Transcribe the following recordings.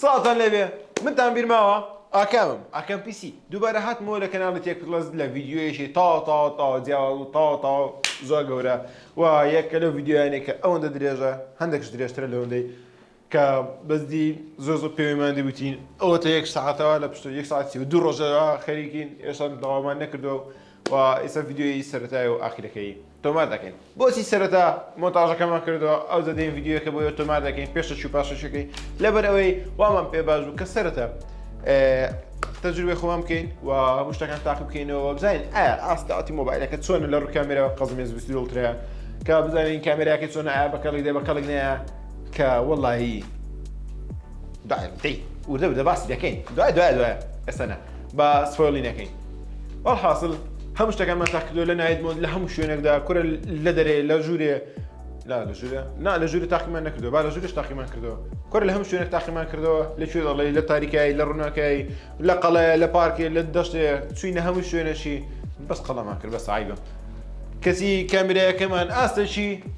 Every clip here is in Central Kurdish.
سڵاوتان لێبێ منتان بیرماوە ئاکامم ئاکام پیسی دووبارە هاتمەوە لە کەناڵی تێک پلس لە ڤیددیوەیەکی تا تا تا جیاواز و تا تا زۆر گەورە و یەکە لە ڤیددیویانێکە ئەوەندە درێژە هەندێکش درێژترە لەوەندەی کە بەزدی زۆر زۆر پێوەیمان دیوتین ئەوەتە یەک ساعتەوە لە پشت یەک ساعتی و دوو ڕۆژەوە خەریکین ئێشان داوامان نەکردو و ئیستا ڤیدیۆیی سەرەتای و ئاخیرەکەی تۆمار دەکەین بۆچی سەرەتا مۆنتاژەکەمان کردەوە ئەو زەدەین ڤیدیۆەکە بۆ تۆمار دەکەین پێشە چوو پاشەشەکەی لەبەر ئەوەی وامان پێ باش بوو کە سەرەتا تەجروبێ خۆمان بکەین و هەموو شتەکان تاقی بکەینەوە بزانین ئایا ئاستاتی مۆبایلەکە چۆنە لە ڕووکامێرەوە قەزمێز بسیولترە کە بزانین کامێراکە چۆنە ئایا بەکەڵی دێ بەکەڵک نەیە کە وەڵایی دایم دەی وردە بدە باسی دەکەین دوای دوای دوای ئەسەنە بە سفۆلی نەکەین وەڵحاسڵ هەموو شتەکانمان تاقیکردو لە نایت مۆد لە هەموو شوێنێکدا کورە لە دەرێ لە ژوورێ لا لە ژوورە نا لە ژووری تاقیمان نەکردو با لە ژوورش تاقیمان کردەوە کورە لە هەموو شوێنێک تاقیمان کردەوە لە کوێ دەڵێ لە تاریکایی لە ڕووناکایی لە قەڵەیە لە پارکێ لە دەشتێ چوینە هەموو شوێنەشی بەس قەڵەمان کرد بە سایگە کەسی کامیرایەکەمان ئاستەشی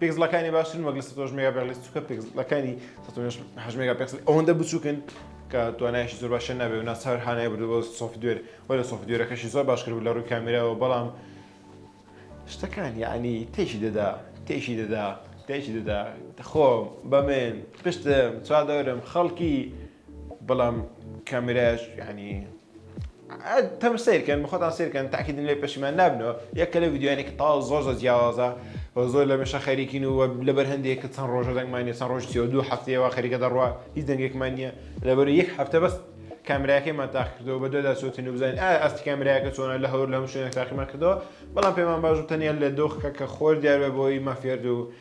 پیکزلەکانی باشترن وەک لە سەتۆش مێگا پێغلی چووکە پیکزلەکانی سەتۆش هەش مێگا پێکسل ئەوەندە بچووکن کە توانایشی زۆر باشە نابێ و ناچار هانای بردو بۆ سۆفت دوێر وە لە سۆفت دوێرەکەشی زۆر باش کرد لە ڕووی کامێراەوە بەڵام شتەکان یعنی تێکی دەدا تێکی دەدا تێکی دەدا خۆم بەمێن پشتم چوار دەورم خەڵکی بەڵام کامێرایش یعنی تەم سیرکەن بەخۆتان سیرکەن تاکیدن لێ پەشیمان نابنەوە یەکە لە ویددیوانێکی تا زۆر زۆر جیاوازە زۆر لە مێشە خەریکین و لە بەرهندێک کە چەند ڕۆژە دەنگمانە چەند ڕۆژ سێ دوو هەفتەیەوە خەریکە دەڕوە هیچ دەنگێکمان نییە لەبەر یەک هەفتە بەس کامراەکەیمان تاقکردەوە بە دودا سووتین و بزانین ئاستی کامراەکە چۆنە لە هەور لەم شوێنە تاقیمان کردەوە بەڵام پێمان باش تەنیا لە دۆخکە کە خۆر دیارە بۆی مافێرد و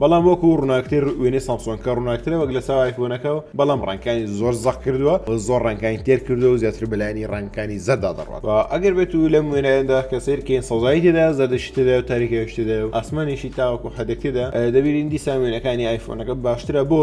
بەڵام وەکو ڕووناکتر وێنەی سامسۆنکە ڕووناکترە وەک لە چاو ئایفۆنەکە و بەڵام ڕەنکانی زۆر زەق کردووە و زۆر ڕەنکانی تێر کردو و زیاتر بەلایانی ڕەنکانی زەردا دەڕات و ئەگەر بێت و لەم وێنایەندا کە سیرکەین سەوزایی تێدا زەردەشی تێدا و تاریکەویش تێدا و ئاسمانیشی تاوەکو حەدەک تێدا دەبینین دیسان وێنەکانی ئایفۆنەکە باشترە بۆ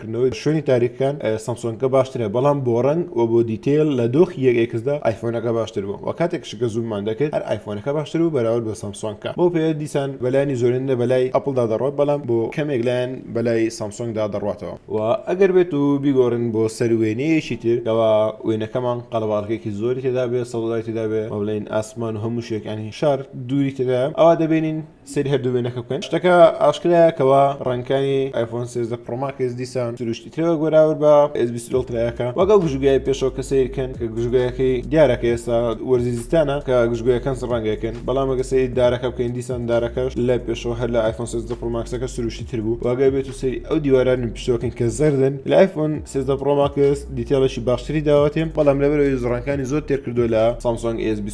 کردنەوەی شوێنی تاریکەکان سەمسۆنگەکە باشترە بەڵام بۆ ڕەنگ و بۆ دیتەیل لە دۆخی یەک ئێکسدا ئایفۆنەکە باشتر بوو وە کاتێکش کە زووممان دەکرد هەر ئایفۆنەکە باشتر بوو بەراورد بە سەمسۆنگکە بەو پێیە دیسان بە لایەنی زۆرێنە بە لای ئەپڵدا دەڕوات بەڵام بۆ کەمێک لایەن بە لای سەمسۆنگدا دەڕواتەوە. وە ئەگەر بێت و بیگۆڕین بۆ سەر وێنەیەکی تر کەوا وێنەکەمان قەرەباڵغیەکی زۆری تێدابێت سەوزای تێدابێت وە بڵێین ئاسمان و هەموو شتێک یانی شار دووری تێدایە ئەوا دەبینین سەیری هەردوو وێنەکە بکەن شتەکە ئاشکرایە کەوا ڕەنکانی ئایفۆن سێزدە پرۆماکەس دیسان سروشتی ترەوە گۆراور بە ئسبیسلترایەکە وەگەڵ گژوگای پێشەوە کە سیرکەن کە گژگایەکەی دیارەکە ئێستا وەرزی زستانە کە گژگویەکان ڕەنگەکەن بەڵام ئەگە سەیری دارەکە بکەین دیسان دارەکەش لە پێشەوە هەر لە ئایفۆن سێزدە پرۆماکسەکە سروشتی تر بوو واگەی بێت و سەری ئەو دیواران پشتەکەن کە زەردن لە ئایفۆن سێزدە پرۆماکس دیتێڵێکی باشتری داوەتێ بەڵام لەبەرەوەی زڕەکانی زۆر تێرکردو لە سامسۆنگ ئێس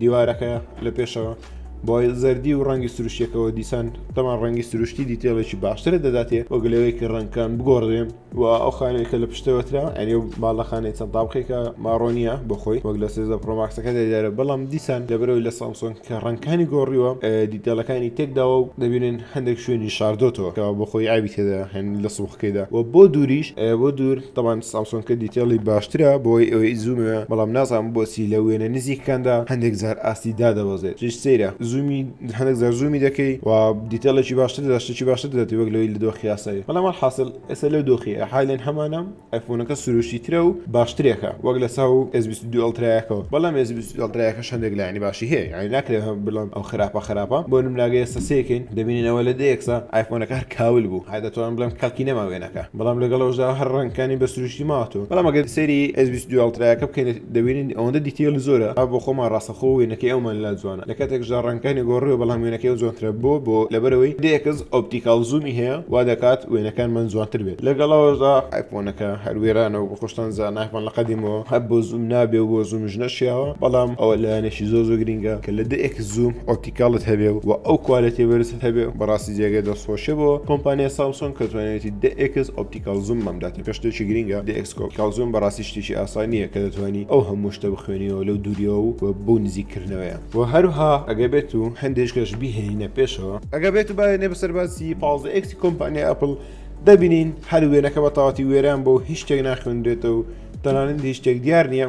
دیوارەکە لە پێشەوە بۆی زەردی و ڕەنگی سروشتەکەەوە دیسان تەمان ڕەنگی سروشتی دیتێڵێکی باشترە دەداتێ وەک لەوەی کە ڕەنکان بگۆڕێن و ئەو خانێکە لە پشتەوەترا ئەنێ باڵەخانەی چەند تاڵقێکە ماڕۆنیە بخۆی وەک لە سێزە پرۆماکسەکە دەدارە بەڵام دیسان لەبەرەوەی لە سامسۆن کە ڕەنکانی گۆڕیوە دیتێڵەکانی تێکداوە و دەبینن هەندێک شوێنی شاردۆتەوە کە بخۆی ئاوی تێدا هەن لە سوخکەیدا و بۆ دووریش بۆ دوور تەبان سامسۆنکە دیتێڵی باشترە بۆی ئەوەی زوومە بەڵام نازان بۆچی لە وێنە نزیکەکاندا هەندێک جار ئاستی دادەبەزێت چش سەیرە زوومی هەندێک جار زوومی دەکەی و دیتێڵێکی باشتر داشتێکی باشتر دەێتی وەک لەوەی لە دۆخی یاسایی بەڵام حاصل ئێستا لەو دۆخی حالێن هەمانە ئەفۆنەکە سروشتی ترە و باشترێکە وەک لە ساو ئەزبیستدوئڵترایەکەەوە بەڵام ئەزبیستدڵترایەکە هەندێک لایانی باشی هەیە یعنی ناکرێت بڵام ئەو خراپە خراپە بۆ نمناگە ئێستا سێکەین دەبینینەوە لە دەیەکسا ئایفۆنەکە هەر کاول بوو هەر دەتوان بڵێم کاکی نەماوێنە ئەکا بەڵام لەگەڵ ئەوەشدا هەر ڕەنگەکانی بە سروشتی ماوەتەوە بەڵام ئەگەر سەیری ئێس بیست و دوو ئەڵترایەکە بکەین دەبینین ئەوەندە دیتەیڵ زۆرە ئا بۆ خۆمان ڕاستەخۆ وێنەکەی ئەومان لا جوانە لە کاتێکشدا ڕەنگەکانی گۆڕیوە بەڵام وێنەکەی ئەو جوانترە بۆ بۆ لەبەرەوەی دە ئێکس ئۆپتیکاڵ زوومی هەیە وا دەکات وێنەکانمان جوانتر بێت لەگەڵ ئەوەشدا ئایفۆنەکە هەر وێرانە وەکو خۆشتان زانن ئایفۆن لە قەدیمەوە هەر بۆ زووم نابێ و بۆ زوومیش نەشیاوە بەڵام ئەوە لایەنێکی زۆر زۆر گرینگە کە لە دە ئێکس زووم ئۆپتی گەڵت هەبێ و ئەو کوالێتی بەرزت هەبێ بەڕاستی جێگەی دەست خۆشیە بۆ کۆمپانیای سامسۆنگ کە توانیوێتی دە ئێکس ئۆپتیکاڵ زووم مام داتێ کە شتێکی گرینگە دە ئێکس ئۆپتیکاڵ زووم بەڕاستی شتێکی ئاسای نییە کە دەتوانی ئەو هەموو شتە بخوێنیەوە لەو دووریەوە و بەو نزیک کردنەوەیە وە هەروها ئەگەر بێت و هەندێ شتەش بیهێنینە پێشەوە. ئەگەر بێت و بایەنێ بەسەر باسی پازدە ئێکسی کۆمپانیای ئەپڵ دەبینین هەر وێنەکە بە تەواتی وێران بووە و هیچ شتێک ناخوێنرێتەوە و تەنانەت هیچ شتێک دیار نییە.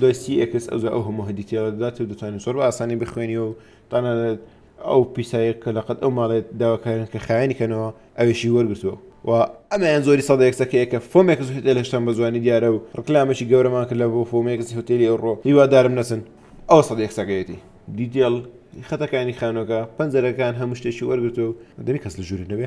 دوای سی ئێکس ئەو جا ئەو هەموو هەدی تێوە دەدات و دەتوانین زۆر بە ئاسانی بخوێنیەوە و تەنانەت ئەو پیسایە کە لەقەت ئەو ماڵێت داواکارن کە خایەنی کەنەوە ئەویشی وەرگرتووە و ئەمەیان زۆری سەدە یەکسەکەیە کە فۆمێکس هوتێل هێشتان بە جوانی دیارە و ڕکلامێکی گەورەمان کرد لە بۆ فۆمێکس هوتێلی ئەوڕۆ هیوادارم نەچن ئەوە سەدە یەکسەکەیەتی دیتێڵ خەتەکانی خانووەکە پەنجەرەکان هەموو شتێکی وەرگرتووە و دەبێ کەس لە ژوورێ نەبێ.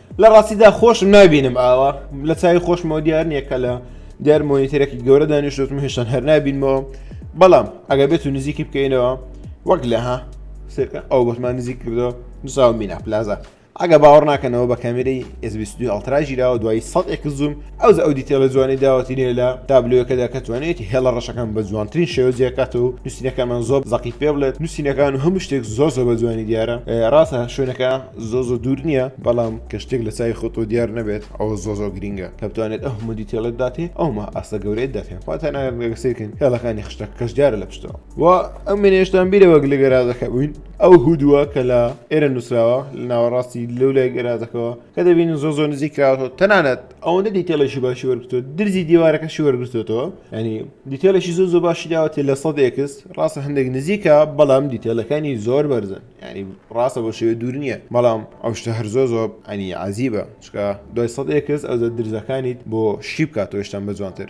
لە ڕاستیدا خۆشم نابینم ئاوا لە چاوی خۆشمەوە دیار نییە کە لە دیار مۆنیتەرێکی گەورە دانیشتوتم هێشتان هەر نابینمەوە بەڵام ئەگە بێت و نزیکی بکەینەوە وەک لە ها سێکە ئەو بەشمان نزیک کردەوە نووساو مینا پلازا ئەگە باوەڕ ناکەنەوە بە کامێرەی ئێزبیستوی ئەڵتراژیراوە دوای سەد ئێک زوم ئەوجا ئەو دیتێلە جوانەی داوەتی لێ لە تابلۆیەکەدا کە توانێت هێڵە ڕەشەکان بە جوانترین شێوە جێکات و نووسینەکانمان زۆر زەقی پێ بڵێت نووسینەکان و هەموو شتێک زۆر زۆر بە جوانی دیارە ڕاستە شوێنەکە زۆ زۆ دوور نییە بەڵام کە شتێک لە چای خۆتۆ دیار نەبێت ئەوە زۆ زۆ گرینگە کە بتوانێت ئەو هەموو دیتێڵێت داتێ ئەومە ئاستە گەورەیت داتێن خواتەناگەسێکن هێڵەکانی خشتە کەش دیارە لە پشتەوە و ئەم منێشتان بیرە وەک لە گەرازەکە بووین ئەو هودووە کە لە ئێرە نووسراوە لە ناوەڕاستی لەو لای گەرازەکەەوە کە دەبینن زۆ زۆ نزیک کراوەەوە تەنانەت ئەوەندە دیتێڵێکی باشی وەرگتووە درزی دیوارەکەشی وەرگتوێتەوە ئەنی دیتێلێکی زۆ زۆ باشی داوەێ لە سەد ئێکس ڕاستە هەندێک نزیکە بەڵام دیتێلەکانی زۆر بەرزن ینی ڕاستە بۆ شێوێ دوور نییە بەڵام ئەو شتە هەر زۆ زۆ ئەنی عزیبە چکە دوای سەد ئێکس ئەو زە درزەکانیت بۆ شی بکاتەوەشتان بە جوانتر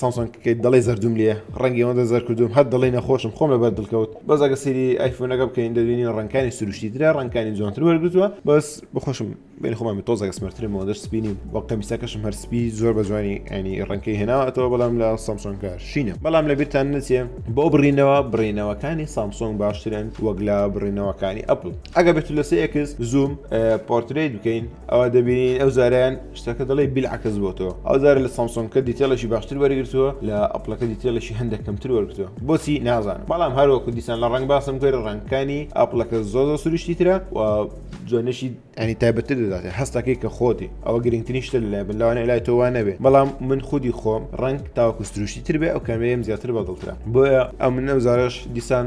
سامسۆنگەکەی دەڵێی زەردووم لێ ڕەنگی ئەوەندە زەرد کردووم هەر دەڵێی نەخۆشم خۆم لەبەر دڵ کەوت بەس ئەگەر سەیری ئایفۆنەکە بکەین دەبینین ڕەنگەکانی سروشتی ترە ڕەنگەکانی جوانتر وەرگرتووە بەس بەخۆشم بینی خۆمم تۆزێک سمەرترم ئەوەندەش سپی نیم وەک قەمیسەکەشم هەر سپی زۆر بە جوانی ئەنی ڕەنگەکەی هێناوەتەوە بەڵام لە سامسۆنگە شینە بەڵام لە بیرتان نەچێ بۆ بڕینەوە بڕینەوەکانی سامسۆنگ باشترن وەک لە بڕینەوەکانی ئەپڵ ئەگەر بێت لە سێ ئێکس زووم پۆرترەیت بکەین ئەوە دەبینین ئەو زاریان شتەکە دەڵی بیلعکەس بۆتەوە ئەو زارە لە سامسۆنکە دیتێڵێکی باشتر وەرگرتووە لە ئەپلەکە دیتێڵێکی هەندێک کەمتر وەرگتووە بۆچی نازانم بەڵام هەروەکو دیسان لە ڕنگ باسم کرد ڕنگکانی ئەپلەکە زۆ زۆ سروشتی ترە و جوێنشی ئەنی تایبەتتر دەدات هەستەکەی کە خۆتی ئەوە گرنگترین شتە لای بن لەوانە لای تۆوان نەبێ بەڵام من خودی خۆم ڕنگ تاوەکو سروشتی تر بێ ئەو کامێریم زیاتر بەدڵترە بۆیە ئەم نەوزارش دیسان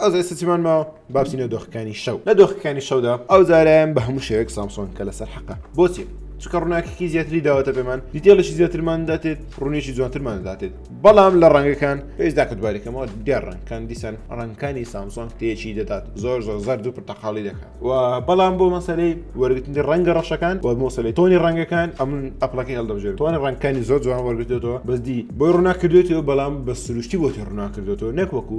ئەو زارە سەچمان ماوە بابچینە دۆخەکانی شەو لە دۆخەکانی شەودا ئەو زارایان بە هەموو شێوێک سامسۆن کە لەسەر حەقە بۆچێ چکە ڕووناکەکی زیاتری داوەتە پێمان دیتێڵێکی زیاترمان داتێت ڕوونێکی جوانترمان داتێت بەڵام لە ڕەنگەکان پێشدا کە دوبارەکەمەوە دیار ڕەنگکان دیسان ڕەنگکانی سامسۆن تێکی دەدات زۆر زۆر زەر دوو پرتەقاڵی دەکات و بەڵام بۆ مەسەلەی وەرگتنی ڕەنگە ڕەشەکان و مۆسەلی تۆنی ڕەنگەکان ئەمن ئەپلەکەی هەڵدەبژێت تۆنی ڕەنگکانی زۆر جوان وەرگتێتەوە بەزدی بۆی ڕووناکردێتەوە بەڵام بە سروشتی بۆتی ڕووناکردێتەوە نەک وەکو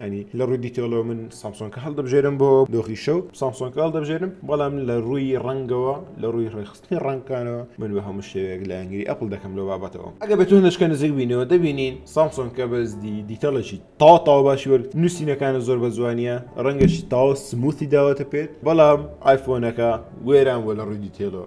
ئەنی لە ڕووی دیتەڵەوە من سامسۆنکە هەڵدەبژێرم بۆ دۆخی شەو سامسۆنکە هەڵدەبژێرم بەڵام لە ڕووی ڕەنگەوە لە ڕووی ڕێخستنی ڕەنگکانەوە من بە هەموو شێوەیەک لایەنگری ئەپل دەکەم لەو بابەتەوە ئەگە بە تونشکە نزیک بینەوە دەبینین سامسۆنکە بەزدی دیتەڵێکی تاو تاو باشی وەرگ نووسینەکانە زۆر بە جوانیە ڕەنگەشی تاو سموتی داوەتە پێت بەڵام ئایفۆنەکە وێران بۆ لە ڕووی دیتێلەوە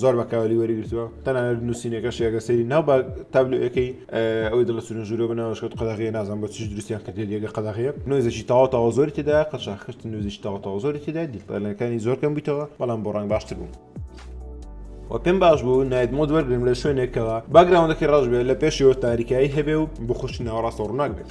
زۆر بەکاولی وەرگرتووە تەنانەت نووسینەکەشی ئەگە سەری ناو بە تابلوەکەی ئەوەی دڵە سون ژورۆ بناوەشکت قەدەغی نازان بۆ چی دروستیان کردێت یەگە قەدەغەیە نوێزەشی تاوا تاوا زۆری تێدا قەشا خشت نوێزیش تاوا تاوا زۆری تێدا دیلەکانی زۆر کەم بیتەوە بەڵام بۆ ڕنگ باشتر بوو. و پێم باش بوو نایت مۆد وەرگرم لە شوێنێکەوە باگراوندەکەی ڕژبێت لە پێشەوە تاریکایی هەبێ و بخوشی ناوەڕاستە ڕووناک بێت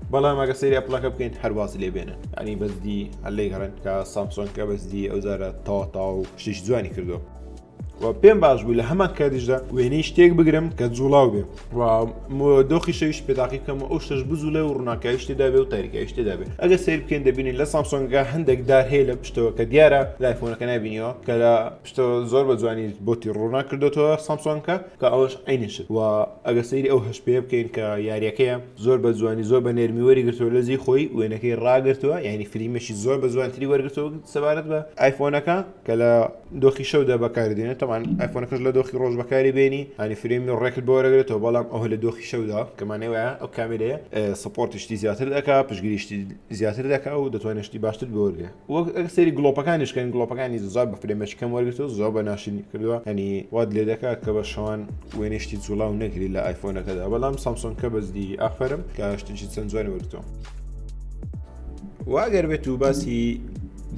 بەڵام ئەگە سری ئەپلەکە بکەین هەرواز لێ بێنن ئەنی بەزدی هەلەی گەڕێن کە سامسۆنکە بەزدی ئەو زارە تاوەتا و شیش جوانی کردو و پێم باش بوو لە هەمان کاتیشدا وێنەی شتێک بگرم کە جوڵاو بێ دۆخی شەویش پێداقی بکەم و ئەو شش بزولە و ڕووناکای شتێدا بێ و تاریکای شتێدا بێ ئەگە سیر بکەین دەبینین لە سامسۆنگە هەندێک دار هەیە لە پشتەوە کە دیارە لایفۆنەکە نبینیەوە کە لە پشتەوە زۆر بە جوانی بۆتی ڕوونا کردوەوە سامسۆنکە کە ئەوەش عەینی شت وە ئەگەر سەیری ئەو هەشت پێیە بکەین کە یاریەکەیە زۆر بە جوانی زۆر بە نێرمی وەری گرتووە لەجێی خۆی وێنەکەی ڕاگرتووە یعنی فلیمێکی زۆر بە جوانتری وەرگرتووە سەبارەت بە ئایفۆنەکە کە لە دۆخی شەودا بەکاری دێنێت تەمان ئایفۆنەکەش لە دۆخی ڕۆژ بەکاری بێنی هەنی فلیمی ڕێکت بۆ وەرەگرێتەوە بەڵام ئەوە لە دۆخی شەودا کەمانێ وایە ئەو کامێرەیە سپۆرتیشتی زیاتر دەکا پشگیریشتی زیاتر دەکا و دەتوانێت شتی باشتر بۆ وەرگێ وەک ئەک سری گڵۆپەکانیش کەن گڵۆپەکانی زۆر بە فرێمەش کەم وەرگتو زۆر بە ناشرین کردووە ئەنی وات لێ دەکا کە بە شەوان وێنیشتی جوڵاو نەگری لە ئایفۆنەکەدا بەڵام سامسۆن کە بەزدی ئافرم کاشتیی چەند جوانی وەرتۆ واگەر بێت و باسی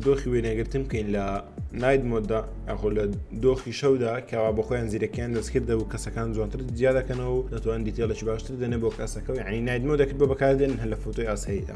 دۆخی وێنەگرتن بکەین لە نایت مۆدا ئەخۆ لە دۆخی شەودا کەوا بە خۆیان زیرەکیان دەستکردە و کەسەکان جوانتر زیادەکەنەوە و دەتوان دیتێڵێکی باشتر دەنێ بۆ کەسەکە و ینی نایت مۆ دەکرد بۆ بەکاردێن هەل لە فوتۆی ئاساییدا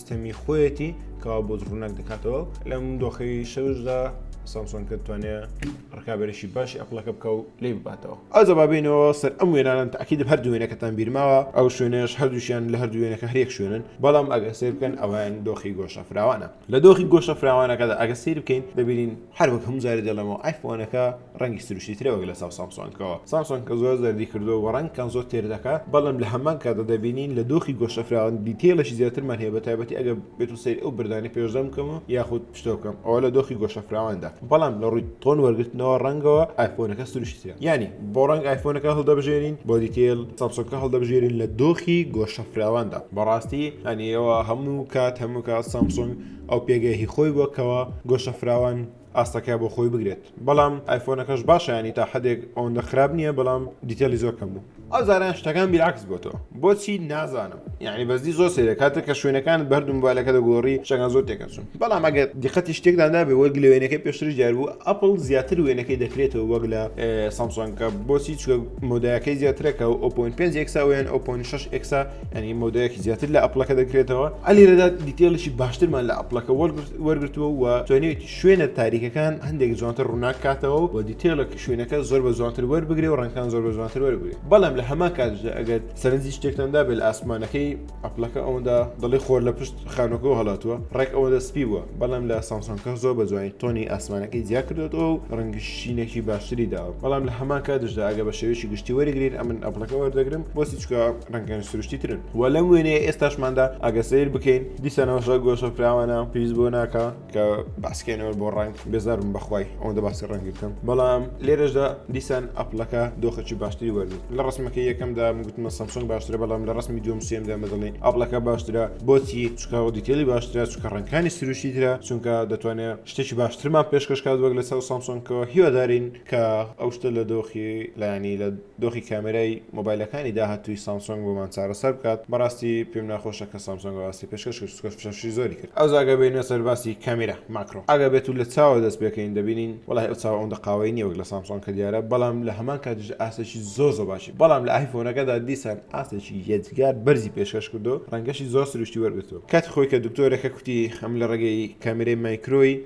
سیستەمی خۆیەتی کەوا بۆ ڕووناک دەکاتەوە لەم دۆخەی شەوشدا سامسۆن کە توانێ ڕکابێرشی باشی ئەپلەکە بکە و لی بباتەوە ئازە بابینەوە سەر ئەم وێنانم تاکیدم هەر دوێنەکەتان بیرماوە ئەو شوێنێش هەردووشیان لە هەردووێنەکە هەرێک شوێنن بەڵام ئەگە سێ بکەن ئەوان دۆخی گۆشە فراوانە لە دۆخی گۆشە فراوانەکەدا ئەگە سیر بکەین دەبینین هەر وەک هەموو جارێ دەڵێمەوە ئایفۆنەکە ڕەنگی سروشتی ترە وەک لەچاو سامسۆنگەوە سامسۆنگەکە زۆر زەردی کردووە و ڕەنگەکان زۆر تێر دەکات بەڵام لە هەمان کاتدا دەبینین لە دۆخی گۆشەفراوان دیتەیڵێکی زیاترمان هەیە بەتایبەتی ئەگەر بێتو سەیری ئەو بەردانەی پێشدەم بکەم و یاخود پشتەوە بکەم ئەوا لە دۆخی گۆشەفراواندا بەڵام لە ڕووی تۆن وەرگرتنەوە ڕەنگەوە ئایفۆنەکە سروشتی ترە یانی بۆ ڕەنگ ئایفۆنەکە هەڵدەبژێرین بۆ دیتەیڵ سامسۆنگەکە هەڵدەبژێرین لە دۆخی گۆشەفراواندا بەڕاستی یانی ئەوە هەموو کات هەموو کات سامسۆنگ ئەو پێگەی هی خۆی بووە کەوا گۆشە فراوان ئاستەکە بۆ خۆی بگرێت بەڵام ئایفۆنەکەش باشە ینی تا حدێک ئەوەندە خراپ نییە بەڵام دیتەلی زۆر کەم بوو. ئەو جاران شتەکان بیرعەکس بۆتەوە بۆچی نازانم یانی بەجدی زۆر سەیرە کاتێک کە شوێنەکانت بەردوو مۆبایلەکە دەگۆڕی شتەکان زۆر تێکەچوون بەڵام ئەگەر دیقەتی شتێکدا نابێ وەک لە وێنەکەی پێشتریش دیار بوو ئەپڵ زیاتر وێنەکەی دەکرێتەوە وەک لە سامسۆنگەکە بۆچی چوە مۆدایەکەی زیاترەکە و ئۆپۆین پێنج ئێکسا وێن ئۆپۆین شش ئێکسا ینی مۆدەیەکی زیاتر لە ئەپلەکە دەکرێتەوە ئەلی لەدا دیتێڵیی باشترمان لە ئەپلەکە وەرگتووە و توێنێت شوێنە تاریکەکان هەندێک جوانتر ڕووناک کاتەوە و دیتێڵک شوێنەکە زۆر بە جوانتر وەربگرێ و ڕەنکان زۆر بە جوانتر وەربگرێت بەڵام لە هەما کاتدا ئەگەر سەرنجی شتێکتاندا بێت ئاسمانەکەی ئەپلەکە ئەوەندا دڵی خۆر لە پشت خانۆکە و هەڵاتوە ڕێک ئەوە دەسپی بووە بەڵام لە سامسۆنکە زۆر بە جوانی تۆنی ئاسمانەکەی جیا کردێتەوە و ڕەنگی شینێکی باشتری داوە بەڵام لە هەما کاتشدا ئەگە بە شێوێکی گشتی وەرگین ئەمن ئەپلەکە وەردەگرم بۆسی چکە ڕەنگەن سروشتی ترن و لەم وێنەیە ئێستاشماندا ئەگە سیر بکەین دیسانەوەشە گۆشە فراوانە پیس بۆ ناکە کە باسکێنەوە بۆ ڕنگ بێزارم بەخوای ئەوەندە باسی ڕەنگی بکەم بەڵام لێرەشدا دیسان ئەپلەکە دۆخەکی باشتری وەرن لە ڕسمەکە یەکەمدا گوتمە سەمسۆنگ باشترە بەڵام لە ڕسمی دوم سێمدا مەدڵێ ئەپلەکە باشترە بۆچی چکاوە دیتێلی باشترە چکە ڕنگکانی سروشتی ترە چونکە دەتوانێت شتێکی باشترمان پێشکەشکات وەک لە ساو سامسۆنکەوە هیوادارین کە ئەو شتە لە دۆخی لایەنی لە دۆخی کامێرای مۆبایلەکانی داهاتووی سامسۆنگ بۆمان چارەسەر بکات بەڕاستی پێم ناخۆشە کە سامسۆنگ ئەو ئاستی پێشکەش کرد چونکە فشەفشی زۆری کرد. ئەوجا ئەگەر بێینە سەر باسی کامیرا ماکرۆ ئەگەر بێت و لە چاوە دەست پێکەین دەبینین وەڵاهی ئەو چاوە ئەوەندە قاوەیی نیە وەک لە سامسۆنگ کە دیارە بەڵام لە هەمان کاتیشدا ئاستێکی زۆر زۆر باشی بەڵام لە ئایفۆنەکەدا دیسان ئاستێکی یەجگار بەرزی پێشکەش کردووە ڕەنگەشی زۆر سروشتی وەرگرتووە کاتی خۆی کە دکتۆرەکە کوتی ئەم لە ڕێگەی کامیرای مایکرۆی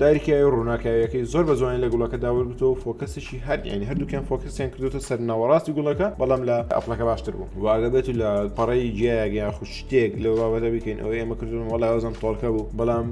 دایرکەیە و ڕووناکایەکەی زۆر بە جوانی لە گوڵەکەدا وەرگتەوە و فۆکەسیشی هەر یانی هەردووکیان فۆکەسیان کردوتە سەر ناوەڕاستی گوڵەکە بەڵام لە ئەپڵەکە باشتر بوو واگە بێت و لە پەڕەی جیایەک یان خو شتێک لەو بابەتە بکەین ئەوەی ئێمە کردون وڵای وەزم تۆڵکە بوو بەڵام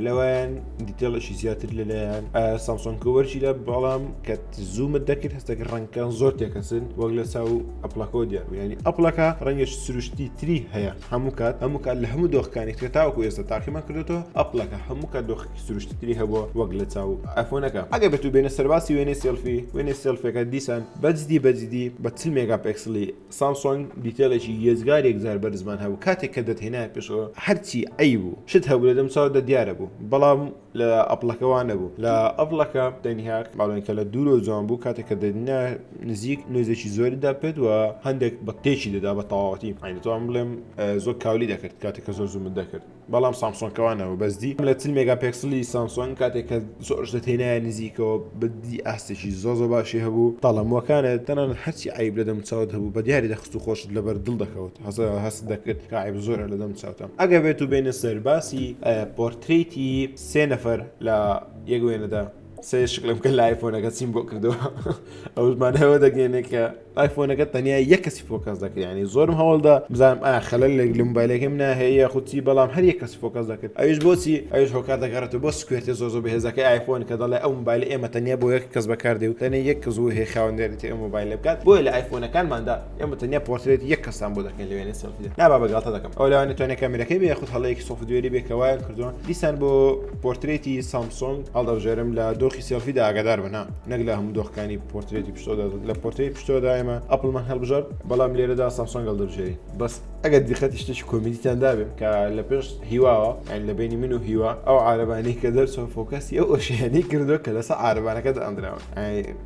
لەوەیان دیتێڵشی زیاتر لەلایەن سامسۆن کوبەرچی لە بەڵام کە زوومت دەکرد هەستەکە ڕەنگکان زۆر تێکەسن وەک لە چاو ئەپلەکەەوە دیار ینی ئەپلەکە ڕەنگش سروشتی تری هەیە هەموو کات هەموو کات لە هەموو دۆخەکانی ترە تاوەکو ئێستا تاقیمان کردێتەوە ئەپلەکە هەموو کات دۆخێکی سروشتی تری هەبووە وەک لە چاو ئەفۆنەکە ئەگە بێت و بێنە سەرباسی وێنەی سێلفی وێنەی سێلفەکە دیسان بەجددی بەجددی بە چل مێگا پێکسلی سامسۆنگ دیتێلێکی یێزگار یەکجار بەرزمان هەبوو کاتێک کە دەتهێنایە پێشەوە هەرچی عەیب و شت هەبوو لە دەم چاودا دیارە بوو بەڵام لە ئەپڵەکە وا نەبوو لە ئەڤڵەکە تەنها ماڵێنکە لە دوورۆ جوان بوو کاتێک کە دەنا نزیک نوێزێکی زۆری دەپێت و هەندێک بە تێکی دەدا بە تەواوەتی ئاینەتوان بڵێم زۆر کاولی دەکرد کاتێک کە زۆر زوومت دەکرد بەڵام سامسۆنکەوانەوە بەزدی لە چل مێگا پێکسلی سامسۆن کاتێک کە زۆرش لە تێنایە نزیکەوە بدی ئاستێکی زۆ زۆ باشی هەبوو تاڵەموەکانە تەنان هەرچی عیب لەدەم چاوت هەبوو بە دیاری دەخست و خۆشت لەبەر دڵ دەکەوت تازە هەست دەکرد کاعب زۆرە لە دەم چاوتان ئەگە بێت و بینە سەر باسی پۆرتریتی سێ نەفەر لە یەک وێنەدا سێ شکلم کە لای فۆنەکە چیم بۆ کردەوە ئەومانەوە دەگەێنێ کە لای فۆنەکە تەنیا یە کەسی فۆکەس دەکرێنی زۆرم هەوڵدا بزانم ئا خەلل لە لە موبایلەکەم ناهەیە خوچی بەڵام هەر یە کەسی فۆکەس دەکرد ئەوش بۆچی ئەوش هۆکار دەگەڕێتەوە بۆ سکوێتی زۆ زۆ بەهێزەکە ئایفۆن کە دەڵێ ئەو موبایل ئێمە تەنیا بۆ یەک کەس بەکاردێ و تەنە یەک کەس و هێ خاوەندێتی ئەو موبایل بکات بۆیە لە ئایفۆنەکانماندا ئێمە تەنیا پۆرترێت یەک کەسان بۆ دەکەین لەوێنێ سەلفی دەکەین نابا بەگاڵتە دەکەم ئەو لەوانێت تۆنێ کامێرەکەی بێ خود هەڵەیەکی سۆفتوێری بێ کە وایە کردووە دیسان بۆ پۆرترێتی سامسۆنگ هەڵدەبژێرم لە دۆخی سێلفیدا ئاگادار بنا نەک لە هەموو دۆخەکانی پۆرترێتی پشتۆدا لە پۆرترێت پشتۆدا ئێمە ئەپڵمان هەڵبژار بەڵام لێرەدا سامسۆنگ هەڵدەبژێری بەس ئەگەر دیقەتی شتێکی کۆمیدیتان دابێ کە لە پێش هیواوە یان لە بینی من و هیوا ئەو عربانەی کە دەرچوە فۆکەسی ئەو ئۆشیانی کردو کە لەسە عربانەکە دەئەندراوە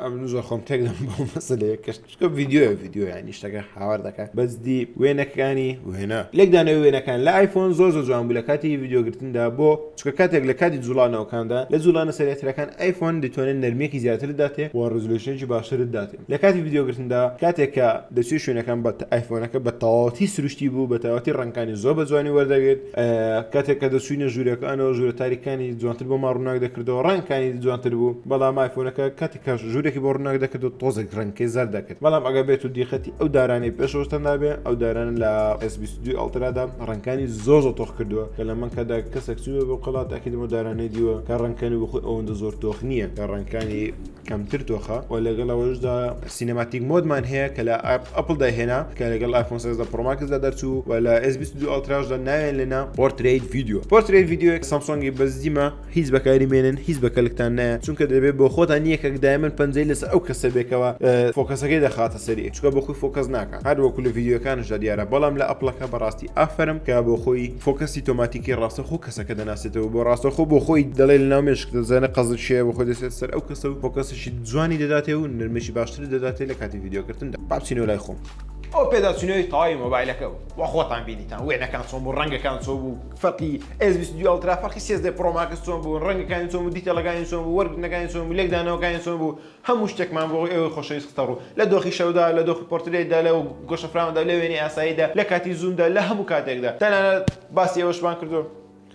ئەمن زۆر خۆم تێک دەم بەو مەسەلەیە کەش چکە ڤیددیوە ڤیددیو ینی شتەکە هاوار دەکات بەس دی وێنەکانی وێنە لێکدانەوە وێنەکان لە ئایفۆن زۆر زۆر جوان بوو لە کاتی ڤیددیوگرتندا بۆ چکە کاتێک لە کاتی جوڵانەوەکاندا لە جوڵانە سەرەترەکان ئایفۆن دەتوانێت نرمێکی زیاتر داتێ و ڕزلوشنێکی باشترت داتێ لە کاتی ڤیددیوگرتندا کاتێک کە دەچێت شوێنەکان بە ئایفۆنەکە بە تەواوەتی سروشتی بوو بە تەواتی ڕەنکانی زۆر بە جوانی وەردەگرێت کاتێک کە دەچووینە ژوورەکانەوە ژوورە تاریکانی جوانتر بۆمان ڕووناک دەکردەوە ڕەنگکانی جوانتر بوو بەڵام ئایفۆنەکە کاتی کاش ژوورێکی بۆ ڕووناک دەکرد و تۆزێک ڕەنگکەی زەر دەکرد بەڵام ئەگە بێت و دیقەتی ئەو دارانەی پێشەوەستەندابێ ئەو دارانە لە ئەسبیستدوی ئەڵترادا ڕەنگکانی زۆر زۆ تۆخ کردووە کە لە من کەدا کەسێک چووە بۆ قڵات ئەکیدمە دارانەی دیوە کە ڕەنگکەنی بخۆی ئەوەندە زۆر تۆخ نییە کە ڕەنگکانی کەمتر دۆخە و لەگەڵ ئەوەشدا سینەماتیک مۆدمان هەیە کە لە ئەپل داهێنا کە لەگەڵ ئایفۆن سێزدە پڕۆماکسدا دەرچوو و لە S22 ئەڵتراژدا ناوێن لەنا پۆرتریت ڤیددیو پۆرتریت ڤیددیوەک سامسۆنگی بەزیمە هیچ بەکاری مێنن هیچ بە کەلکتان نایە چونکە دەبێت بۆ خۆتان یەکێک دایمن پەنجەی لەس ئەو کەسە بێکەوە فۆکەسەکەی دەخاتە سەری چکە بۆ خۆی فۆکەس ناکە هەر وەکو لە ڤیددیوەکانشدا دیارە بەڵام لە ئەپلەکە بەڕاستی ئافرم کە بۆ خۆی فۆکەسی تۆماتیکی ڕاستە خۆ کەسەکە دەناسێتەوە بۆ ڕاستەخۆ بۆ خۆی دەڵێ لە ناو مێشک دەزانە قەزت شەیە بۆ خۆی دەسێت سەر ئەو کەسە و فۆکەسێکی جوانی دەداتێ و نرمێکی باشتر دەداتێ لە کاتی ڤیددیوکردن بابچینەوە لای خۆم ئەو پێداچنەوەی تەواوی مۆبایلەکە بوو وە خۆتان بینیتان وێنەکان چۆن بوو ڕەنگەکان چۆن بوو فەرقی S22 Ultra فەرقی 13 Pro Max چۆن بوو ڕەنگەکانی چۆن بوو دیتەڵەکانی چۆن بوو وەرگرتنەکانی چۆن بوو لێکدانەوەکانی چۆن بوو هەموو شتێکمان بۆ ئێوەی خۆشەویست خستە ڕوو، لە دۆخی شەودا، لە دۆخی پۆرترێتدا، لە گۆشەفراواندا، لە وێنەی ئاساییدا، لە کاتی زوومدا، لە هەموو کاتێکدا. تەنانەت باسی ئەوەشمان کردووە،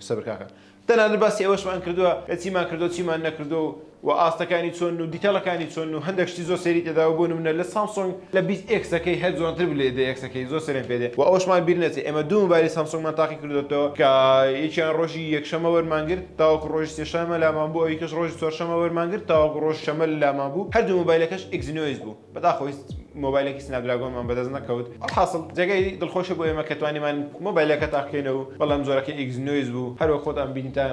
سەبر کاکە، تەنانەت باسی ئەوەشمان کردووە کە چیمان کردووە و چیمان نەکردووە و ئاستەکانی چۆنن و دیتەڵەکانی چۆنن و هەندێک شتی زۆر سەیری تێداوە بۆ نموونە لە سامسۆنگ لە بیست ئێکسەکەی هەر جوانتر بوو لە ئێدە ئێکسەکەی زۆر سەرێم پێ دێ و ئەوەشمان بیر نەچێ ئێمە دوو مۆبایلی سامسۆنگمان تاقی کردۆتەوە کە یەکیان ڕۆژی یەکشەممە وەرمان گرت تاوەکو ڕۆژی سێ شەمە لامان بوو ئەوی کەش ڕۆژی چوار شەمە وەرمان گرت تاوەکو ڕۆژ شەمە لامان بوو هەردوو مۆبایلەکەش ئیکزینۆیس بوو بەداخەوەی مۆبایلەکی سناپ دراگۆنمان بەدەست نەکەوت ئەڵحاسڵ جێگەی دڵخۆشە بۆ ئێمە کە توانیمان مۆبایلەکە تاقکەینە و بەڵام زۆرەکەی ئیکزینۆیس بوو هەروەک خۆتان بینتە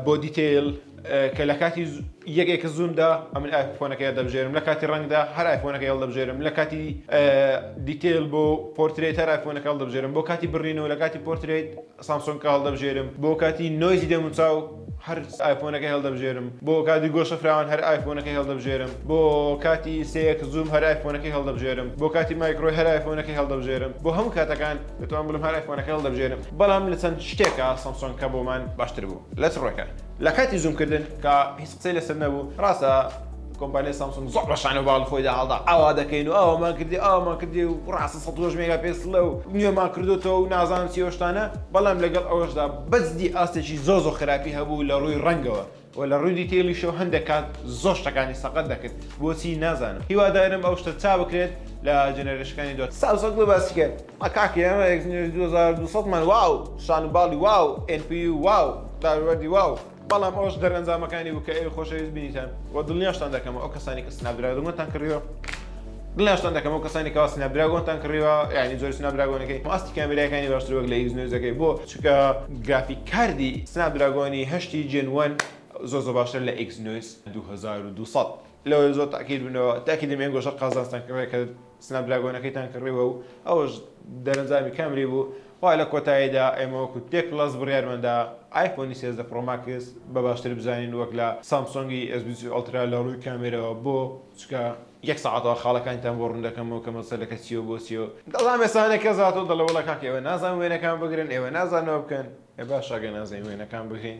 بۆ دیتەیل کە لە کاتی یەک ئێکس زوومدا ئەمن ئایفۆنەکە دەبژێرم لە کاتی ڕەنگدا هەر ئایفۆنەکە هێڵ دەبژێرم لە کاتی دیتەیل بۆ پۆرترێت هەر ئایفۆنەکە هەڵ دەبژێرم بۆ کاتی بڕینەوە لە کاتی پۆرترێت سامسۆنگ کە هەڵدەبژێرم بۆ کاتی نۆیزی دەموچاو هەر ئایفۆنەکەی هەڵدەبژێرم بۆ کاتی گۆشە فراوان هەر ئایفۆنەکەی هەڵدەبژێرم بۆ کاتی سێکس زووم هەر ئایفۆنەکەی هەڵدەبژێرم بۆ کاتی مایکرۆی هەر ئایفۆنەکەی هەڵدەبژێرم بۆ هەموو کاتەکان دەتوانم بڵێم هەر ئایفۆنەکەی هەڵدەبژێرم بەڵام لە چەند شتێکا سامسۆنگ کە بۆمان باشتر بوو لە چ ڕووێکا لە کاتی زوومکردن کە هیچ قسەی لەسەر نەبوو ڕاستە کۆمپانیای سامسۆنگ زۆر بە شان و باڵی خۆیدا هەڵدا، ئاوا دەکەین و ئاوامان کردی ئاوامان کردی و ڕاستە سەد و هەشت مێگا پێکسڵە و نوێمان کردۆتەوە و نازانم چی و شتانە، بەڵام لەگەڵ ئەوەشدا بەجدی ئاستێکی زۆر زۆر خراپی هەبوو لە ڕووی ڕەنگەوە و لە ڕووی دیتەیڵیشەوە هەندێک کات زۆر شتەکانی سەقەت دەکرد بۆچی نازانم، هیوادارم ئەو شتە چابکرێت لە جێنەرێشنەکانی دواتر. سامسۆنگ بۆ باسی کرد ئە کاک ئێمە ئێکزینۆس دوو هەزار و دوو سەد مان واو شان و باڵی واو ئێن پی یو واو داروبەردی واو. بەڵام ئەوەش دەرئەنجامەکانی بوو کە ئێوەی خۆشەویست بینیتان و دڵنیاشتان دەکەم ئەو کەسانی کە سناپدراگۆنتان کڕیوە دڵنیاشتان دەکەم ئەو کەسانی کەوا سناپدراگۆنتان کڕیوە یعنی جۆری سناپدراگۆنەکەی و ئاستی کامێرایەکانی باشتر وەک لە ئیکس نوێزەکەی بۆ چونکە گرافیک کاردی سناپدراگۆنی هەشتی جێن وەن زۆر زۆر باشترە لە ئیکس نوێز دوو هەزار و دوو سەد لەوەیە زۆر تاکید بنەوە تاکیدم ئێنگۆشەر قازانجتان کڕیە کە سناپدراگۆنەکەیتان کڕیوە و ئەوەش دەرەنجامی کامری بوو و لە کۆتاییدا ئێمە وەکو تێک پڵەس بڕیارمان دا ئایفۆنی سێزدە پڕۆ ماکس بە باشتر بزانین وەک لە سامسۆنگی ئێس بیست و سێ ئەڵترا لە ڕووی کامێرەوە بۆ چکە یەک سەعاتەوە خاڵەکانیتان بۆ ڕوون دەکەمەوە کە مەسەلەکە چییە و بۆ چییە و دەڵام ئێسانە کە زاتۆ دەڵێ وەڵا کاکە ئێوە نازان وێنەکان بگرن ئێوە نازان ئەوە بکەن ئێ باشە ئەگەر نازانین وێنەکان بگرین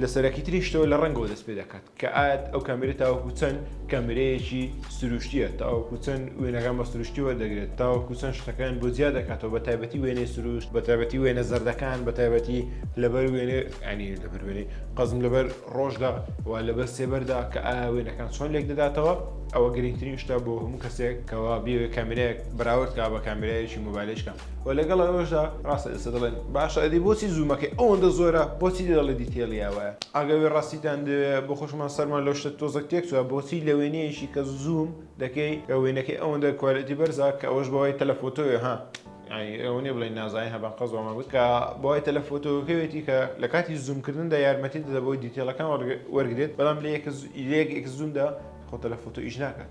لە سەرەکیتریشتەوە لە ڕەنگەوە دەست پێ دەکات کە ئاەت ئەو کامێرە تاوەکو چەند کامرەیەکی سروشتیە تاوەکو چەند وێنەکان بە سروشتی وەردەگرێت تاوەکو چەند شتەکان بۆ جیا دەکاتەوە بە تایبەتی وێنەی سروشت بە تایبەتی وێنە زەردەکان بە تایبەتی لەبەر وێنێ ئەنی لەبەر وێنەی قەزم لەبەر ڕۆژدا و لەبەر سێبەردا کە ئا وێنەکان چۆن لێک دەداتەوە ئەوە گرنگترین شتا بۆ هەموو کەسێک کەوا بێوێ کامرەیەک بەراوردکە بە کامرەیەکی موبایلشکە و لەگەڵ ئەوەشدا ڕاستە ئێستا دەڵێن باشە ئەدی بۆچی زوومەکەی ئەوەندە زۆرە بۆچی دەڵێ دیتێڵیا وایە ئاگەوێ ڕاستیتان دەوێ بۆ خۆشمان سەرمان لەو شتە تۆزەک تێکچوە بۆچی لە وێنەیەکی کە زووم دەکەی کە وێنەکەی ئەوەندە کوالێتی بەرزە کە ئەوەش بەوەی تەلەفۆتۆیە ها ئەوە نیە بڵێن نازانین هەبان قەزۆمە بوو کە بەوای تەلەفۆتۆکەوێتی کە لە کاتی زوومکردندا یارمەتی دەدە بۆی دیتێڵەکان وەرگێت بەڵام لە یەک زوومدا خۆ تەلەفۆتۆ ئیش ناکات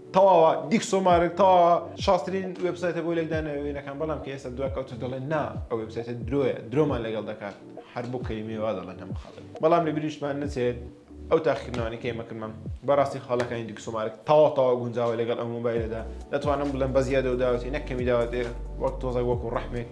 تەواوە دیکسۆ مارک تەواوە شاسترین وێبسایتە بۆ لێکدانەوە وێنەکان بەڵام کە ئێستا دوا کەوتە دەڵێن نا ئەو وێبسایتە درۆیە درۆمان لەگەڵ دەکات هەر بۆ کەلیمەی وا دەڵێن هەموو خەڵک بەڵام لە بیریشمان نەچێت ئەو تاقیکردنەوانی کە ئێمە کردمان بەڕاستی خاڵەکانی دیکسۆمارک تەواو تەواو گونجاوە لەگەڵ ئەو مۆبایلەدا دەتوانم بڵێم بە زیادە و داوەتی نەک کەمی داوەتێ وەک تۆزەک وەکو ڕەحمێک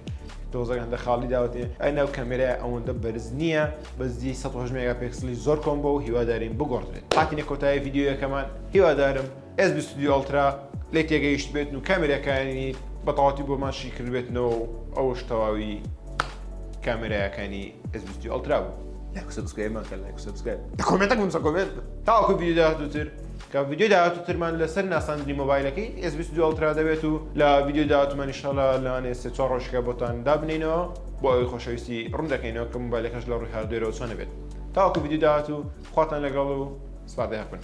دۆزەک هەندە خاڵی داوەتێ ئەی ناو کەمێرای ئەوەندە بەرز نییە بەزی 100 مێگا پێکسلی زۆر کۆم بۆ و هیوادارین بگۆڕدرێت هاتینە کۆتایی یددیوەکەمان هیوادارم ئێس بیست و دوو ئەڵترا لێی تێگەیشتبێتن و کامێراکانی بەتەواوەتی بۆمان شی کردبێتنەوە و ئەوەش تەواوی کامێرایەکانی ئێس بیست و دوو ئەڵترا بوو. لایک و سەبسکرایبمان کە لایک و سەبسکرایب لە کۆمێنتەک بنووسە کۆمێنت بکە تاوەکو ڤیدیۆی داهاتووتر کە ڤیدیۆی داهاتووترمان لەسەر ناساندنی مۆبایلەکەی ئێس بیست و دوو ئەڵترا دەبێت و لە ڤیدیۆی داهاتوومان ئیشاڵا لەوانەیە سێ چوار ڕۆژێکە بۆتان دابنێینەوە بۆ ئەوەی خۆشەویستی ڕوون دەکەینەوە کە مۆبایلەکەش لە ڕووی هاردوێرەوە چۆنە بێت تاوەکو ڤیدیۆی داهاتوو خواتان لەگەڵ و سپاردەیەک بن.